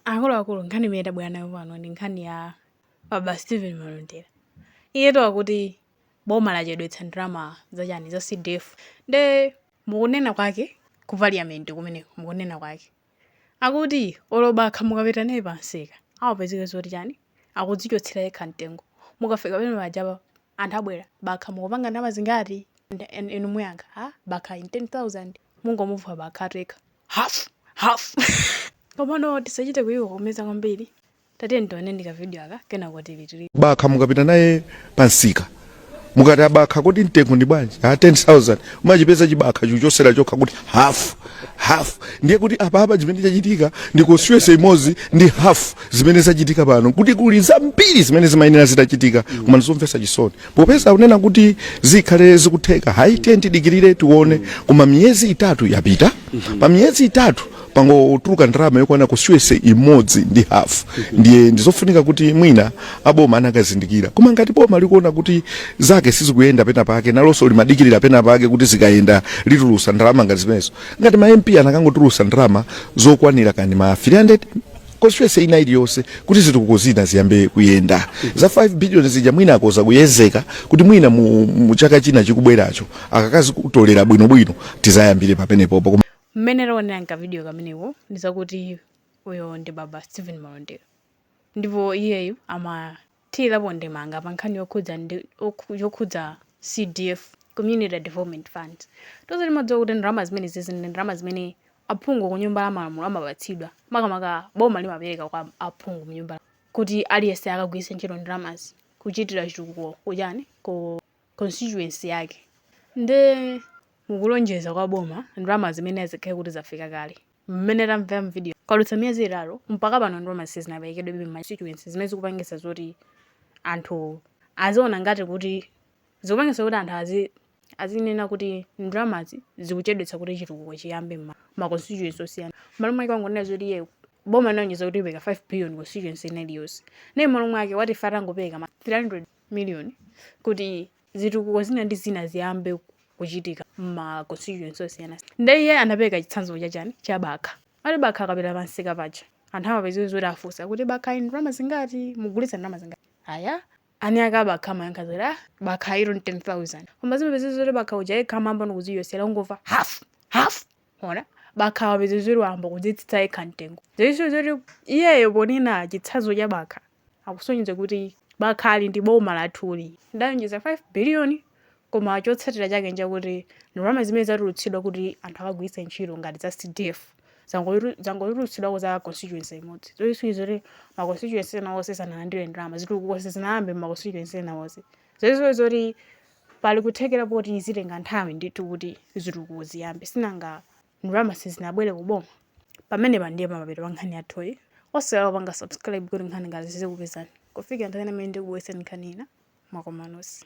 Akuluakulu, nkhani imene tabwera nayo pano ndi nkhani ya Baba Stephen Malondera. Iyetu akuti boma lachedwetsa ndalama zachani za CDF. Nde mukunena kwake ku parliament kumeneko mukunena kwake akuti olo bakha mukapita naye pamsika apezeka zoti chani akudzichotsera yekha mtengo mukafika pamene pajapa anthu abwera bakha mukupanga ndalama zingati Nda- en- inu muyankha ha bakhayi 10000 mungomumva bakha ati yekha half half komano tisachite kuikokomeza kwambiri tatiyeni tionenso kavidiyo aka kenako tili tili bakha mukapita naye pansika mukati abakha kodi mtengo ndi bwanji ha 10000 umachipeza chibakha chikuchosera chokha kuti hafu half ndiye kuti apapa zimene zachitika ndi constituency imodzi ndi half zimene zachitika pano kuti kuli zambiri zimene zimayenera zitachitika koma ndizomvetsa chisoni popeza unena kuti zikhale zikutheka hayi tiye tidikirire tione koma miyezi itatu yapita pa miyezi itatu pangotuluka ndalama yokwana constituency imodzi ndi half ndiye ndizofunika kuti mwina aboma anakazindikira koma ngati boma likuona kuti zake sizikuyenda pena pake nalonso limadikirira pena pake kuti zikayenda litulusa ndalama ngati zimenezo ngati ma mp anakangotulusa ndalama zokwanira kani ma 300 constituency ina iliyonse kuti zitukuko zina ziyambe kuyenda za 5 billion zija mwina akoza kuyezeka kuti mwina mu, mu chaka china chikubweracho akakazitolera bwinobwino tizayambire papenepopo Koma mmene taonera mkavidiyo kameneko ndi zakuti uyo ndi baba stephen malondera ndipo iyeyu amathirirapo ndemanga pa nkhani yokhudza ndi okhu- yokhudza CDF Community Development Funds tonse timadziwa kuti ndalama zimenezi zili ndi ndalama zimene aphungu ku nyumba ya malamulo amapatsidwa makamaka boma limapereka kwa aphungu mu nyumba kuti aliyense akagwiritse ntchito ndalamazi kuchitira chitukuko kuchani ku constituency yake nde mukulonjeza kwa boma ndalama zimene zikhale kuti zafika kale Mmene tamvera m'vidiyoyi, kwadutsa miyezi itatu mpaka pano ndalama sizinaperekedwebe m'ma constituency zimene zikupangitsa zoti anthu aziona ngati kuti zikupangitsa kuti anthu azinena kuti ndalamazi zikuchedwetsa kuti chitukuko chiyambe m'ma constituency osiyana. M'malo mwake wangonena zoti iyeyo boma linalonjeza kuti lipereka 5 billion constituency ina iliyonse. Nde m'malo mwake wati ife atangopereka ma 300 million kuti zitukuko zina ndi zina ziyambe kuchitika mma constituency osiyana nde iye anapereka chitsanzo cha chani cha bakha ati bakha akapita pansika paja anthu amapezeka zoti afunsa kuti bakhayi ndi ndalama zingati mugulitsa ndalama zingati aja eni akabakha amayankha zoti ah bakhayi 10000 koma zimapezeka zoti bakha uja yekha amayamba kudzichotsera ungomva half half ona bakha wapezeka zoti wayamba kudzitsitsa yekha mtengo kusonyeza zoti iyeyo ponena chitsanzo cha bakha akusonyeza kuti Bakha ali ndi boma lathuli lidalonjeza 5 biliyoni koma chotsatira chake nchakuti ndalama zimene zatulutsidwa kuti anthu akagwiritse ntchito ngati za cdf zangotulutsidwako za constituency imodzi zoisonyeza kuti ma constituency ena onse sanalandire ndalama zitukuko sizinayambe ma constituency ena onse zoisonyeza kuti pali kuthekera poti zitenga nthawi ndithu kuti zitukuko ziyambe sinanga ndalama sizinabwere ku boma? Pamenepa ndiye pamapeto pa nkhani yathuyi. Osaiwala kupanga subscribe kuti nkhani ngati izi zizikupezani kufikira nthawi ina imene ndikubweretseni nkhani ina mwakomanonse.